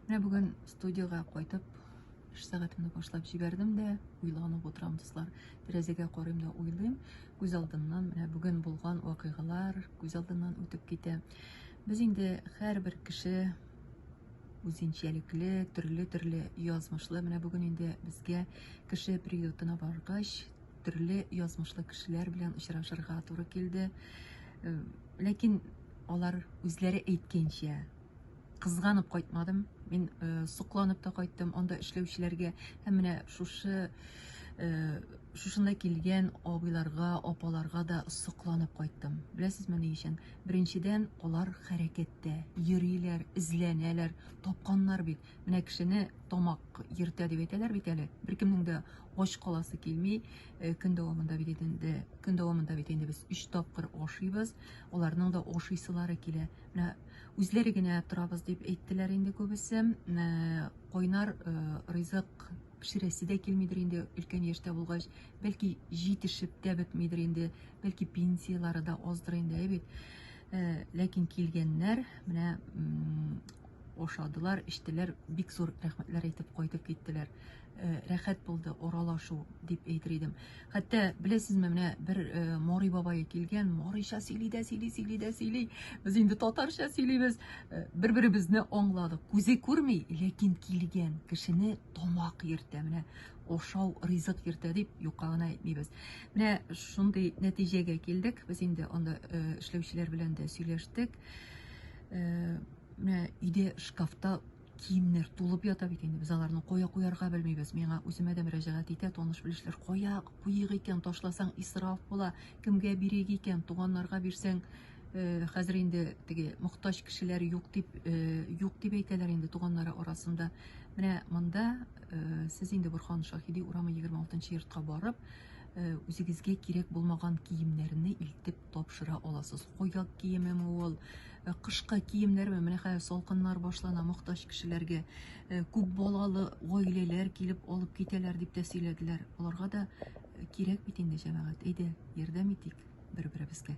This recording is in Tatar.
Менә бүген студиога кайтып, эш сәгатемне башлап җибәрдем дә, уйланып утырам, дуслар. Тәрәзәгә карыйм да уйлыйм. Күз алдыннан менә бүген булган вакыйгалар күз алдыннан үтеп китә. Без инде һәрбер кеше үзенчәлекле, төрле-төрле язмышлы. Менә бүген инде безгә кеше приютына баргач, төрле язмышлы кешеләр белән очрашырга туры килде. Ләкин алар үзләре әйткәнчә, кызганып кайтмадым. Мин э, сокланып та кайттым анда эшләүчеләргә һәм менә шушы э, шушында килгән абыйларга, апаларга да сокланып кайттым. Беләсезме ни өчен? Беренчедән, алар хәрәкәттә, йөриләр, эзләнәләр, тапканнар бит. Менә кешене тамак йөртә дип әйтәләр бит әле. Беркемнең дә ач каласы килми. Э, көн дәвамында бит инде, көн дәвамында бит инде без 3 тапкыр ашыйбыз. Аларның да ашыйсылары килә. Менә Үзләре генә торабыз дип әйттеләр инде күбесе. Кайнар ризык пешерәсе дә килмидер инде өлкән яшьтә булгач, бәлки җитешеп тә бетмидер инде, бәлки пенсияләре дә аздыр инде, әйбит. Ләкин килгәннәр, менә ашадылар, эчтеләр, бик зур рәхмәтләр әйтеп кайтып киттеләр. Э, рәхәт булды оралашу дип әйтер идем хәтта беләсезме менә бер э, морый бабайы килгән морыйча сөйли дә сөйли сөйли дә сөйли без инде татарча сөйлибез э, бер беребезне аңладык күзе күрми ләкин килгән кешене тамак йөртә менә ошау ризык йөртә дип юкка гына әйтмибез менә шундый нәтиҗәгә килдек без инде анда эшләүчеләр белән дә сөйләштек менә өйдә шкафта Киемнәр тулып ята бит инде, без аларны кая куярга белмибез. Миңа үземә дә мөрәҗәгать итә таныш-белешләр. Кая куйыйк икән, ташласаң исраф була, кемгә бирик икән, туганнарга бирсәң, э, хәзер инде теге мохтаҗ кешеләр юк дип, э, юк дип әйтәләр инде туганнары арасында. Менә монда э, сез инде Борхан Шаһиди урамы 26 йортка барып, э, үзегезгә кирәк булмаган киемнәрне илтеп тапшыра аласыз. Куяк киемеме ул, Ә кышкы киемнәрме? Менә хәзер салкыннар башлана, мохтаҗ кешеләргә, күп балалы гаиләләр килеп алып китәләр, дип тә сөйләделәр. Аларга да кирәк бит инде, җәмәгать. Әйдә, ярдәм итик бер-беребезгә.